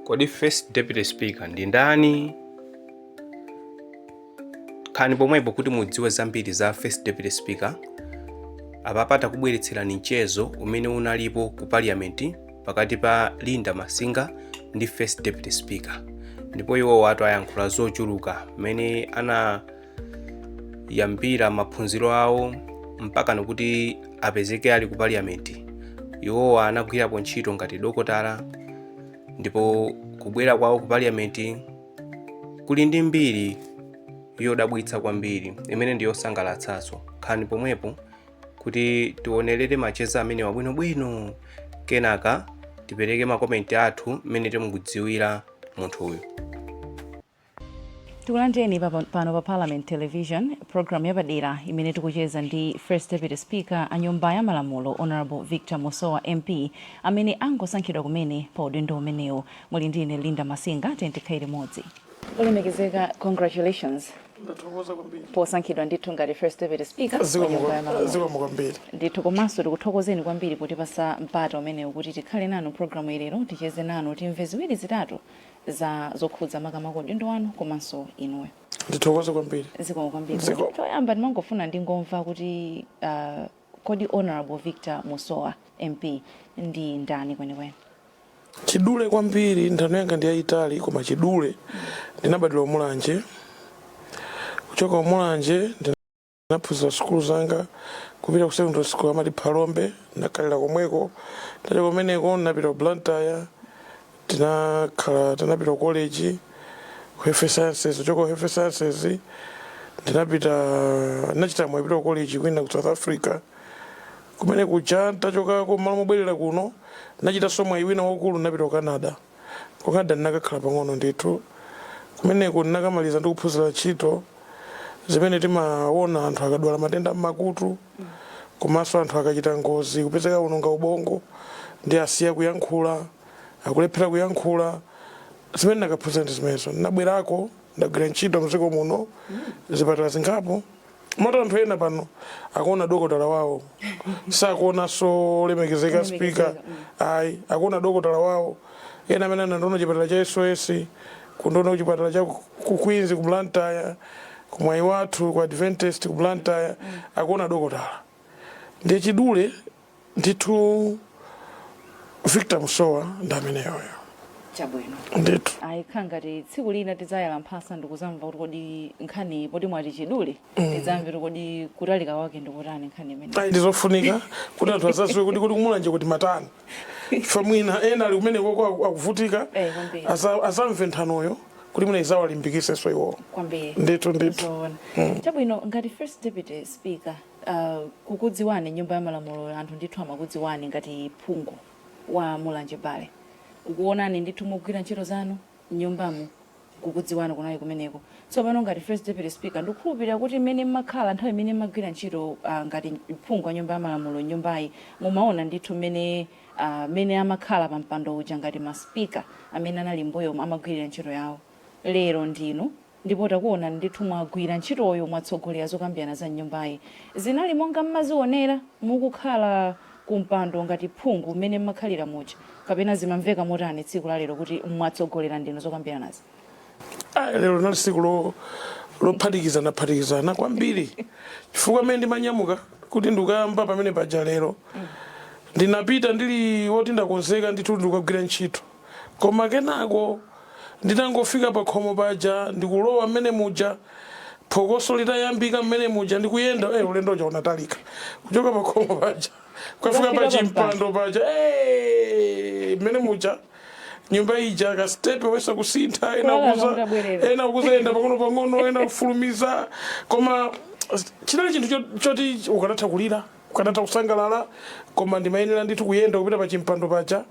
Kodi first deputy speaker ndi ndani? Khaani pomwepo kuti mudziwe zambiri za first deputy speaker. Apapa takubweretserani mchezo umene unalipo ku parliament pakati pa Linda Masinga ndi first deputy speaker, ndipo iwo watu ayankhula zochuluka mmene ana yambira maphunziro awo mpaka n'kuti apezeke ali ku parliament iwowo anagwirapo ntchito ngati dokotala ndipo kubwera kwawo ku parliament kuli ndi mbiri yodabwitsa kwambiri imene ndi yosangalatsanso khani pomwepo kuti tionerere macheza amenewa bwinobwino kenaka tipereke makomenti athu mmene timukudziwira munthuyu Tikulandireni pano pa Parliament Television, programu yapadera imene tikucheza ndi First Deputy Speaker a Nyumba ya Malamulo Honourable Victor Musowa MP amene angosankhidwa kumene pa udindo umenewu. Muli ndi ine Linda Masinga, tiyeni tikhale limodzi. Olemekezeka, congratulations ndathokoza kwambiri posankhidwa ndithu ngati First Deputy Speaker wa Nyumba ya Malamulo. zikomo kwambiri ndithu komanso tikuthokozeni kwambiri potipasa mpata umenewu kuti tikhale nanu programu ya lero ticheze nanu timve ziwiri zitatu za zokhudza makamaka udindo wanu komanso inuyo. Ndithokoze kwambiri. Zikomo kwambiri. Choyamba ndimangofuna ndingomva kuti uh, kodi Honorable Victor Musowa MP ndi ndani kwenikweni? Chidule kwambiri nthano yanga ndi yayitali koma chidule ndinabadwira Mulanje kuchoka Mulanje ndinaphunzira sukulu zanga kupita ku secondary school amati phalombe ndakhalira komweko nditachoka kumeneko ndinapita ku blantyre tinakhala tinapita ku college ku health sciences kuchoka ku health sciences ndinachita mwayi kupita ku college kwina ku south africa kumene kuja ntachokako mmalo mobwerera kuno ndinachitanso mwayi wina waukulu ndinapita ku canada Ku Canada ndinakakhala pang'ono ndithu. Kumeneko ndinakamaliza ndi kuphunzira ntchito zimene timaona anthu akadwala matenda a m'makutu komanso anthu akachita ngozi kupezeka awononga ubongo ndi asiya kuyankhula, akulephera kuyankhula. Zimene ndinakaphunzira ndi zimenezo. Ndinabwerako, ndagwira ntchito m'dziko muno zipatala zingapo. moti anthu ena pano akuona dokotala wawo sakuonanso olemekezeka speaker ayi akuona dokotala wawo ena amene anandiona chipatala cha sos kundiona kuchipatala cha ku queens ku blantyre ku mwaiwathu ku adventist ku blantyre akuona dokotala ndiye chidule ndithu victor musowa ndi ameneyoyo chabwino ndithu ayi kukhala ngati tsiku lina tidzayala mphasa ndikuzamva kuti kodi nkhani poti mwati chidule tidzamve kuti kodi kutalika kwake ndikutani nkhani imeneyi ayi ndizofunika kuti anthu azaziwe kuti kuti kumulanje kuti mmatani ife mwina ena ali kumenekoko akuvutika Eh, kwambiri. aza- azamve nthanoyo kuti mwina izawalimbikiseso iwowo kwambiri ndithu ndithu zoona chabwino ngati first deputy speaker Uh, kukudziwani nyumba ya malamulo anthu ndithu amakudziwani ngati phungu wa Mulanje Bale kukuonani ndithu mugwira ntchito zanu mnyumbamu kukudziwani kunali kumeneko tsopano ngati first deputy speaker ndikukhulupirira kuti mmene mmakhala nthawi imene mmagwira ntchito uh, ngati phungu wa nyumba ya malamulo mnyumbayi mumaona ndithu mmene uh, mmene amakhala pa mpando uja ngati ma speaker amene anali mmbuyo amagwirira ntchito yawo lero ndinu Ndipo takuonani ndithu mwagwira ntchitoyo, mwatsogolera zokambirana za m'nyumbayi. Zinali monga mmene mmazionera mukukhala ku mpando ngati phungu mmene mmakhalira muja kapena zimamveka motani tsiku la lero kuti mwatsogolera ndinu zokambiranazi? Ayi, lero linali tsiku lo lophatikizanaphatikizana kwambiri chifukwa mmene ndimanyamuka kuti ndikukayamba pamene paja lero, ndinapita ndili woti ndakonzeka ndithu kuti ndikukagwira ntchito. Koma kenako nditangofika pakhomo paja ndikulowa mmene muja, phokoso litayambika mmene muja ndikuyenda, eh ulendo uja unatalika. Kuchoka pakhomo paja kukafika Kukafika pachimpando paja, eh mmene muja nyumba ija ka step kuyesa kusintha ena Kuwala kuza ndabwerera. ena kuzayenda pang'ono pang'ono ena kufulumiza koma chinali chinthu cho- choti ukanatha kulira Ukanatha kusangalala, koma ndimayenera ndithu kuyenda kupita pa chimpando paja.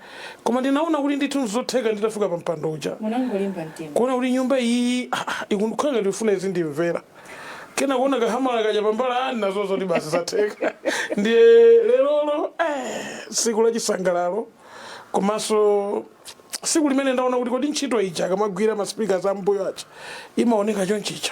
Koma ndinaona kuti ndithu n'zotheka nditafika pa mpando uja. Munangolimba mtima. Kuona kuti nyumba iyiyi, aa, ikukhala ngati ikufuna izindimvera. Kenako kuona ka hamala kaja pambali, aa, ndinaziwa zoti basi zatheka. Ndiye lerolo, eh, tsiku la chisangalalo, komanso tsiku limene ndaona kuti kodi ntchito ija akamagwira ma speakers a m'mbuyo aja, imaoneka chonchija.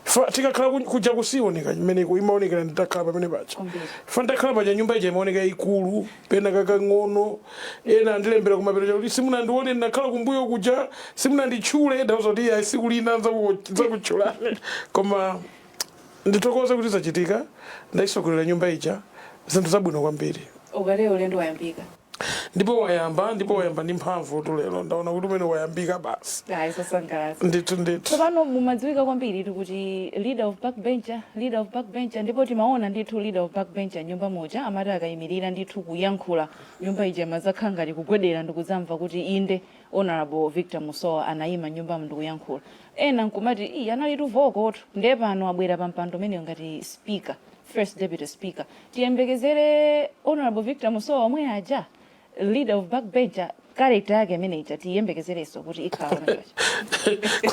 Fa tikakhala ku- kuja kuja siyoneka chimene ikumaonekera nditakhala pamene paja Kwambiri. fa nditakhala paja nyumba ija imaoneka yayikulu pena kakang'ono ena andilembera kumapeto chakuti simunandione ndinakhala kumbuyo kuja simunanditchule ndawauza kuti ayi siku lina nzaku- zakutchulani koma ndithokoze kuti zachitika ndayisogolera nyumba ija zinthu zabwino kwambiri ukakhale ulendo wayambika ndipo wayamba ndipo wayamba ndi mphamvutu lero ndaona kuti mmene wayambika basi ayi zosangalatsa ndithu ndithu tsopano mumadziwika kwambiritu kuti leader of backbencher leader of backbencher ndipo timaona ndithu leader of backbencher mnyumba muja amati akayimirira ndithu kuyankhula nyumba ija imazakhala ngati kugwedera ndikudzamva kuti inde honorable victor musowa anayima mnyumbamu ndikuyankhula ena nkumati iyeyu analitu vokotu ndiye pano mwabwera pa mpando umenewo ngati speaker first deputy speaker tiyembekezere honorable victor musowa omwe aja leader of backbencher character yake imene ija tiyembekezerenso kuti ikhala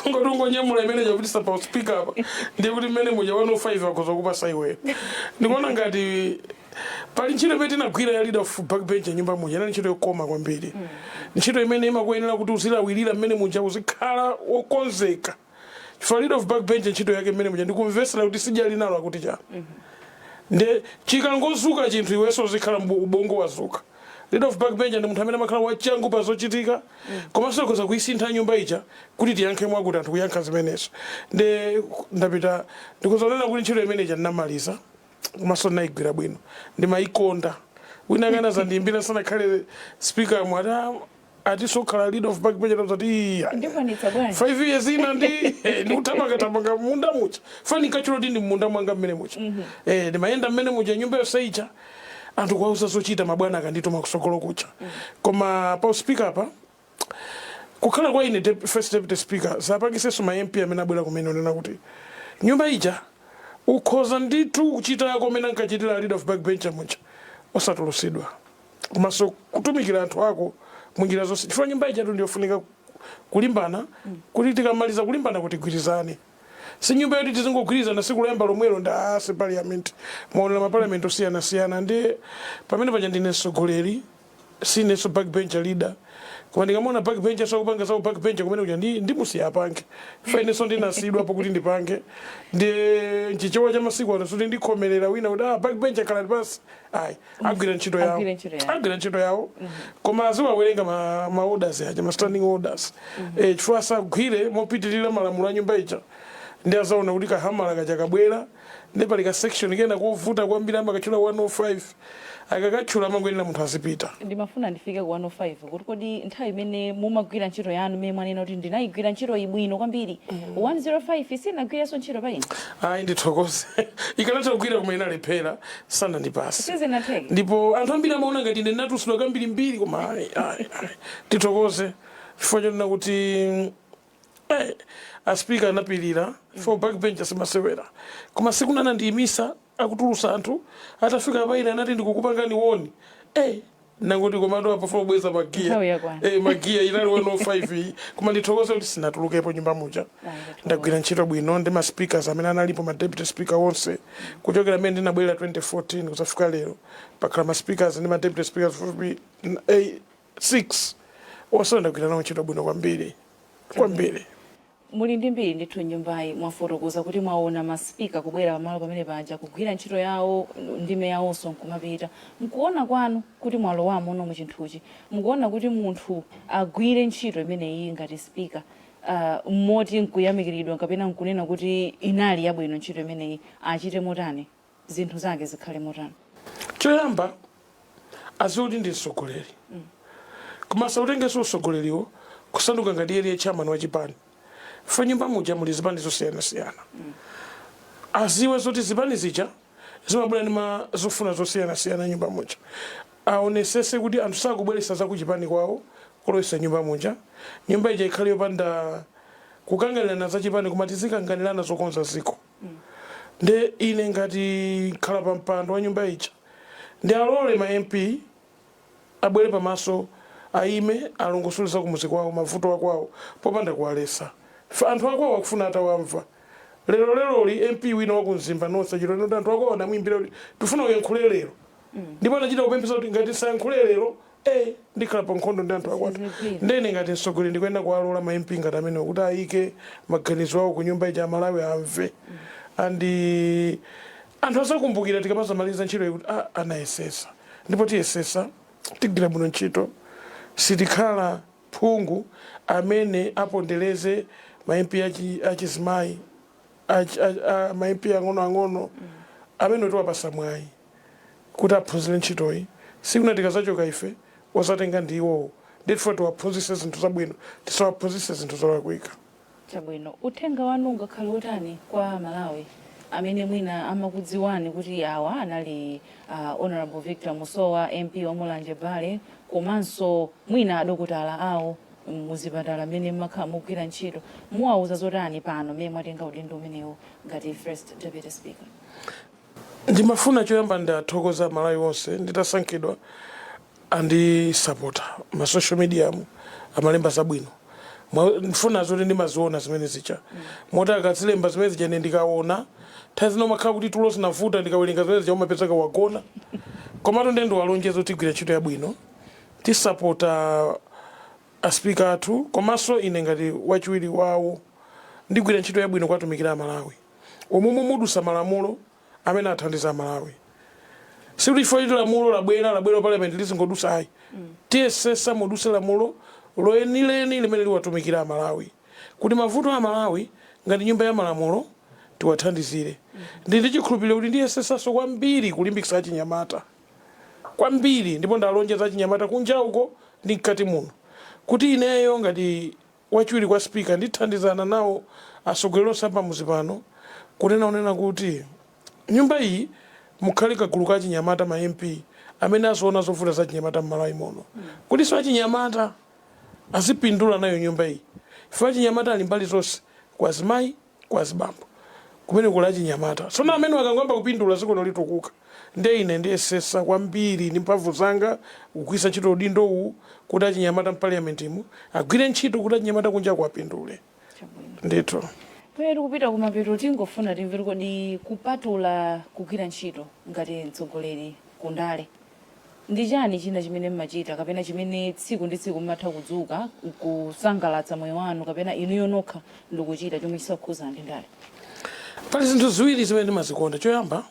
kungoti ungonyamula imene chapitisa pa uspika apa ndiye kuti mmene muja 105 akhoza kupasa iweyo ndikuona ngati pali ntchito imene tinagwira ya leader of backbench m'nyumba muja inali ntchito yokoma kwambiri ntchito imene imakuyenera kuti uzilawirira mmenemo muja uzikhala wokonzeka chifukwa leader of back bench ntchito yake mmene muja ndikumvetsera kuti sija ali nalo akuti chani mm -hmm. nde chikangodzuka chinthu iwenso uzikhala ubongo wadzuka leader of back bench ndi munthu amene amakhala wachangu pa zochitika mm -hmm. komanso akhoza kuisintha nyumba ija kuti tiyankhe mwakuti anthu nkuyankha zimenezo nde ndapita ndikuzanena kuti ntchito imene ija ndinamaliza komanso ndinayigwira bwino ndimayikonda ena akanazandiyimbira musanakhale speaker nkumati ndizakhale leader of backbencher ndati iya Ndikwanitsa bwanji? 5 years ina ndi eh, ndikutamanga tamanga m'munda muja chifukwa ndikati ndi munda mwanga mmene muja eh ndimayenda mmene muja nyumba yonse ija anthu kuwauza zochita mabwana akandituma kutsogolo kuja koma pa uspika apa kukhala kwa ine dep- first deputy speaker zapangitsanso ma mp amene abwera kumene kunena kuti nyumba ija ukhoza ndithu kuchita ngati mmene ankachitira leader of backbencher muja osatulusidwa komanso kutumikira anthu ako munjira zonse chifukwa nyumba ijatu ndiyofunika kulimbana kuti tikamaliza kulimbana nkuti tigwirizane si nyumba yoti tizingogwirizana tsiku loyamba lomwelo ndiye si parliament mumaonera maparliament osiyanasiyana ndiye pamene paja ndine mtsogoleri sinenso backbencher leader koma ndikamaona backbencher akupanga za ubackbencher kumene kuja ndi ndimusiya apange chifukwa inenso ndinasiyidwapo kuti ndipange ndi nchichewa cha masiku ano zoti ndikhomerere wina kuti ah backbencher khalani pansi ayi agwire ntchito yawo Agwire ntchito yawo. agwire ntchito yawo koma aziwerenga ma, ma orders aja ma standing orders eh, chifukwa asagwire mopitirira malamulo a nyumba ija ndiye azaona kuti kahamala kaja kabwera ndiye pali ka section kena kovuta kwambiri amakatchula 105 akakatchula amangoonera munthu azipita ndimafuna ndifike ku 105 kuti kodi nthawi imene mumagwira ntchito yanu imene mwanena kuti ndinayigwira ntchito yabwino kwambiri 105 sinagwirepo ntchito pa ine ayi ndithokoze ikanatha kugwira koma inalephera sanandipase Sizinatheke. ndipo anthu ambiri amaona ngati ine ndinatulutsidwa kambirimbiri koma ayi ayi ayi ndithokoze chifukwa chonena kuti eh, aspika anapirira chifukwa backbencher simasewera koma tsiku lina anandiyimitsa akutulutsa anthu atafika paine anati ndikukupangani warn eh, Ndangoti komatu apa ndifuna kubweza magiya. Nthawi yakwana. Eh magiya inali 105 iyi. Koma ndithokoze kuti sinatulukepo m'nyumba muja. Ndagwira ntchito bwino ndi ma speakers amene analipo ma deputy speaker onse. Kuchokera mmene ndinabwera 2014 kuzafika lero. Pakhala ma speakers ndi ma deputy speakers pafupi 6. Onse ndagwira nawo ntchito bwino kwambiri. Kwambiri. Muli ndi mbiri ndithu nyumbayi. Mwafotokoza kuti mwaona ma speaker kubwera pamalo pamene paja, kugwira ntchito yawo, ndime yawonso nkumapita. Mkuona kwanu kuti mwalowamono mu chinthuchi, mukuona kuti munthu agwire ntchito imeneyiyi ngati speaker moti nkuyamikiridwa kapena nkunena kuti inali yabwino ntchito imeneyi, achite motani? zinthu zake zikhale motani? Choyamba aziwe kuti ndi mtsogoleri koma asautengenso utsogoleriwo kusanduka ngati iye ndiye chairman wa chipani ifo nyumba muja muli zipani zosiyanasiyana aziwe zoti zipani zija zimabwera ndi ma zofuna zosiyanasiyana nyumba muja aonesese kuti anthu sakubweretsa za kuchipani kwawo kulowesa nyumba muja nyumba ija ikhale yopanda kukanganirana za chipani koma tizikanganirana zokonza ziko nde ine ngati ndikhala pa mpando wa nyumba ija ndi alole ma MP abwere pa maso ayime alongosole za kumuzi kwawo mavuto akwawo popanda kuwalesa anthu akwawo akufuna atawamva. Lero leroli MP wina waku Mzimba nonse chiti anthu akwawo anamuyimbira kuti tikufuna uyankhule lero ndipo anachita kupemphetsa kuti ngati sindiyankhula lero ee ndikhala pa nkhondo ndi anthu akwathu Sizigwira. ndiye ine ngati mtsogoleri ndikuyenera kuwalola ma mp ngati amenewo kuti ayike maganizo awo ku nyumba ija amalawi amve and eh, anthu azakumbukira tikamazamaliza ntchito kuti ah, anayesesa ndipo tiyesesa tigwira bwino ntchito sitikhala phungu amene apondereze ma mp achi- achizimayi achi- a- a- ma mp ang'onoang'ono amene tiwapasa mwayi kuti aphunzire ntchitoyi. Tsiku lina tikadzachoka ife, odzatenga ndi iwowo. Ndiye tifuna tiwaphunzitse zinthu zabwino, tisawaphunzitse zinthu zolakwika. Chabwino. Uthenga wanu ungakhale wotani kwa a Malawi amene mwina amakudziwani kuti awa anali a Hon. Victor Musowa, MP wa Mulanje Bale, komanso mwina adokotala awo mu zipatala m'mene m'makhala mukugwira ntchito. Muwauza zotani pano m'mene mwatenga udindo umenewu ngati First Deputy Speaker? Ndimafuna choyamba ndiwathokoze amalawi onse nditasankhidwa andisapota ma social mediamu amalemba zabwino mfuna adziwe zoti ndimaziona zimene zija moti akazilemba zimene zija ine ndikaona nthawi zina umakhala kuti tulo tinavuta ndikawerenga zimene zija umapezeka wagona komatu ndiye ndiwalonjeza kuti tigwira ntchito yabwino tisapota aspika athu komanso ine ngati wachiwiri wawo ndigwira ntchito yabwino kuwatumikira amalawi umu umu mudusa malamulo amene athandiza amalawi sikuti chifukwa choti lamulo labwera labwera parliament lizingodusa ayi tiyesesa muduse lamulo loyenileni limene liwatumikira amalawi kuti mavuto a amalawi ngati nyumba ya malamulo tiwathandizire ndi ndi chikhulupiriro kuti ndiyesesanso kwambiri kulimbikitsa achinyamata kwambiri ndipo ndalonjeza achinyamata kunja uko ndi mkati muno kuti ineyo ngati Wachiwiri kwa Speaker ndithandizana nawo atsogoleri onse a pamudzi pano kunena onena kuti nyumba iyi mukhale kagulu ka achinyamata ma MP amene aziona zovuta za achinyamata m'Malawi muno kutinso achinyamata azipindula nayo nyumba iyi ife achinyamata ali mbali zonse kwa azimayi kwa azibambo kumene kuli achinyamata. Tsono amenewa akangoyamba kupindula dzikono litukuka. Ndiye ine ndiyesesa kwambiri ndi mphamvu zanga kugwiritsa ntchito udindo uwu kuti achinyamata m'parliament imu agwire ntchito kuti achinyamata kunjaku apindule. Chabwino. Ndithu. Pamene tikupita kumapeto tingofuna timve kuti kodi kupatula kugwira ntchito ngati mtsogoleri ku ndale, Ndi chani china chimene mmachita kapena chimene tsiku ndi tsiku mmatha kudzuka nkusangalatsa moyo wanu kapena inuyo nokha ndikuchita chomwe chisakukhuza ndi ndale? Pali zinthu ziwiri zimene ndimazikonda. Choyamba,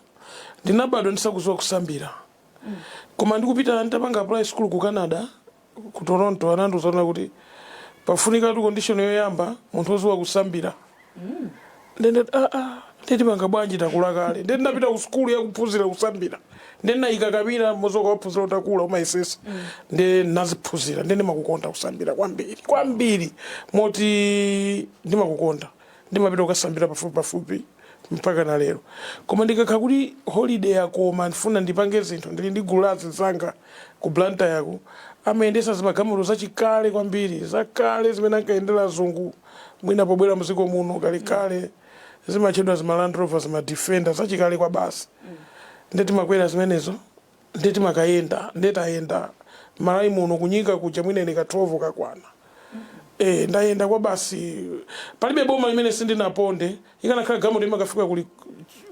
ndinabadwa ndisakuziwa kusambira. Koma ndikupita nditapanga apply sukulu ku Canada, ku Toronto anandiuza kunena kuti pafunikatu condition yoyamba munthu wodziwa kusambira nde ndati aa nde tipanga bwanji takula kale nde ndinapita ku sukulu yakuphunzira kusambira nde ndinayika paja mmadzi ukawaphunzira utakula umayesesa nde ndinaziphunzira nde ndimakukonda kusambira kwambiri kwambiri moti ndimakukonda Ndimapita kukasambira pafupi pafupi mpakana lero. Koma ndikakhala kuti holiday yakoma ndifuna ndipange zinthu ndili ndi gulu la azinzanga ku Blantyre ku, amayendetsa zimagalmoto zachikale kwambiri, zakale zimene ankayendera azungu mwina pobwera mdziko muno kalekale. Zimatchedwa zima Land Rover, zima Defender zachikale kwabasi. Nde timakwera zimenezo. nde timakayenda nde tayenda mmalawi muno ku nyika kuja mwina ine ka 12 kakwana ee ndayenda kwabasi palibe boma limene sindinaponde ikanakhala galimoto imakafika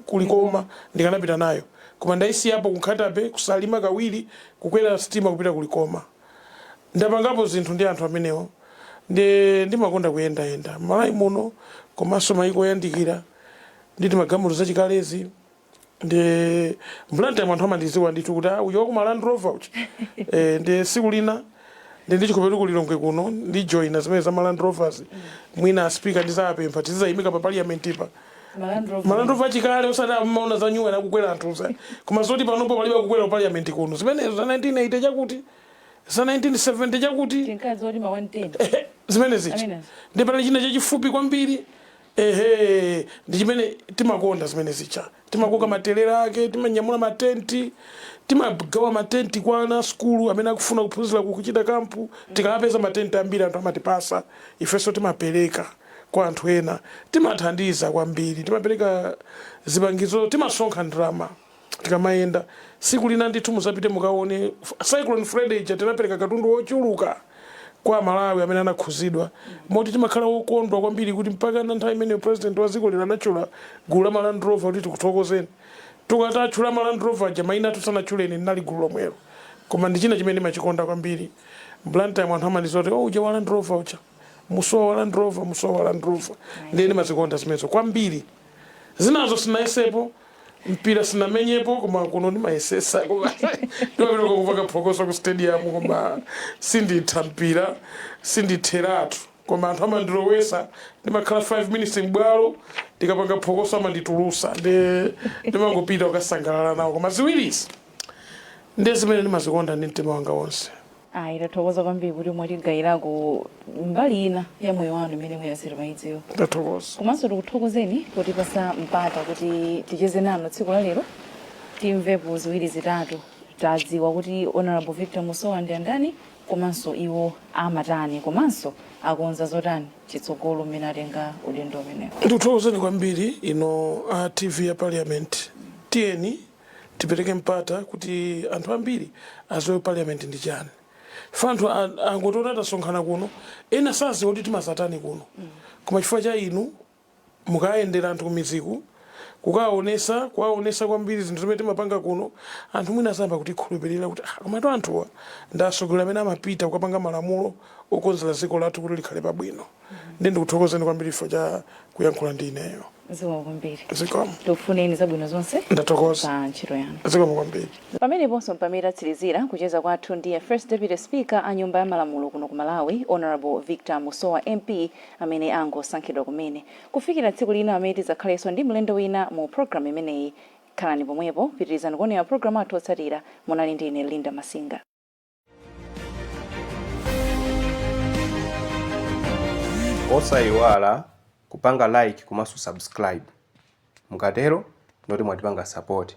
ku Likoma ndikanapita nayo koma ndaisiyapo ku Nkhata Bay ku salima kawiri kukwera sitima kupita ku Likoma ndapangapo zinthu ndi anthu amenewo nde ndimakonda kuyendayenda mmalawi muno komanso mayiko oyandikira ndi zimagalimoto zachikalezi ndi m'Blantyre anthu amandiziwa ndithu kuti uja wakuma land rover uja e, ndi siku lina ndi ndichikope ku lilongwe kuno ndijoina zimene za maland rovers mwina a speaker ndizapempha tizizayimika pa parliament pa ma land rover achikale osati amaona za nyuwa nakukwera anthu izi koma zoti panopo palibe kukwera parliament kuno zimenezo za 1980 chakuti za 1970 chakuti zimenezi ndi pali china chachifupi kwambiri Ehe ndi chimene timakonda zimene zija timakoka matelera ake timanyamula ma tent timagawa ma tent kwa ana a sukulu amene akufuna kuphunzira kukachita camp tikapeza ma tent ambiri anthu amatipasa ifenso timapereka kwa anthu ena timathandiza kwambiri timapereka zipangizo timasonkha ndalama tikamayenda. Tsiku lina ndithu muzapite mukaone cyclone Freddy ija tinapereka katundu wochuluka kwa amalawi amene anakhuzidwa moti timakhala wokondwa kwambiri kuti mpakana nthawi imeneyo president wa dziko lino anatchula gulu la ma land rover kuti tikuthokozeni. Tikati atchula ma land rover aja maina athu sanatchule ine ndinali gulu lomwelo. Koma ndi china chimene ndimachikonda kwambiri Blantyre mu anthu amandidziwa kuti oh uja wa land rover uja. Musowa wa land rover. Ndiye ndimazikonda zimenezo kwambiri. Zinazo sindinayesepo. mpira sinamenyepo koma kuno ndimayesesa koma ndimapita kukapanga phokoso ku stadium koma sinditha mpira sinditheratu koma anthu amandilowesa ndimakhala 5 minutes m'bwalo ndikapanga phokoso amanditulusa nde ndimangopita kukasangalala nawo koma ziwirizi ndiye zimene ndimazikonda ndi mtima wanga wonse ayi tathokoza kwambiri kuti mwatigayirako mbali ina ya moyo wanu imene ena samayidziwa ndathokoza komanso tikuthokozeni potipasa mpata kuti ticheze nanu tsiku la lero timvepo ziwiri zitatu tidziwe kuti honorable victor musowa ndi andani komanso iwo amatani komanso akonza zotani kutsogolo mmene atenga udindo umenewo ndikuthokozeni kwambiri ino a tv ya parliament tiyeni tipereke mpata kuti anthu ambiri aziwe parliament ndi chani chifukwa anthu angotiona titasonkhana kuno ena saziwa kuti timazatani kuno koma chifukwa cha inu mukayendera anthu kumidziku kukaonesa kuwaonesa kwambiri zinthu zimene timapanga kuno anthu mwina azayamba kutikhulupirira kuti ah, komatu anthuwa ndi atsogoleri amene amapita kukapanga malamulo okonzera dziko lathu kuti likhale pabwino ndiye ndikuthokozeni kwambiri chifukwa cha kuyankhula ndi ineyo zikomo kwambiri zikomo tikufuneni zabwino zonse ndathokoza pa ntchito yanu zikomo kwambiri pameneponso mpamene tatsirizira kucheza kwathu ndi first deputy speaker a nyumba ya malamulo kuno ku malawi honorable victor musowa mp amene angosankhidwa kumene kufikira tsiku lina amene tidzakhalenso ndi mlendo wina mu programu imeneyi khalani pomwepo pitirizani kuonera programu athu otsatira munali ndi ine linda masinga osayiwala kupanga like komanso subscribe mukatero ndoti mwatipanga support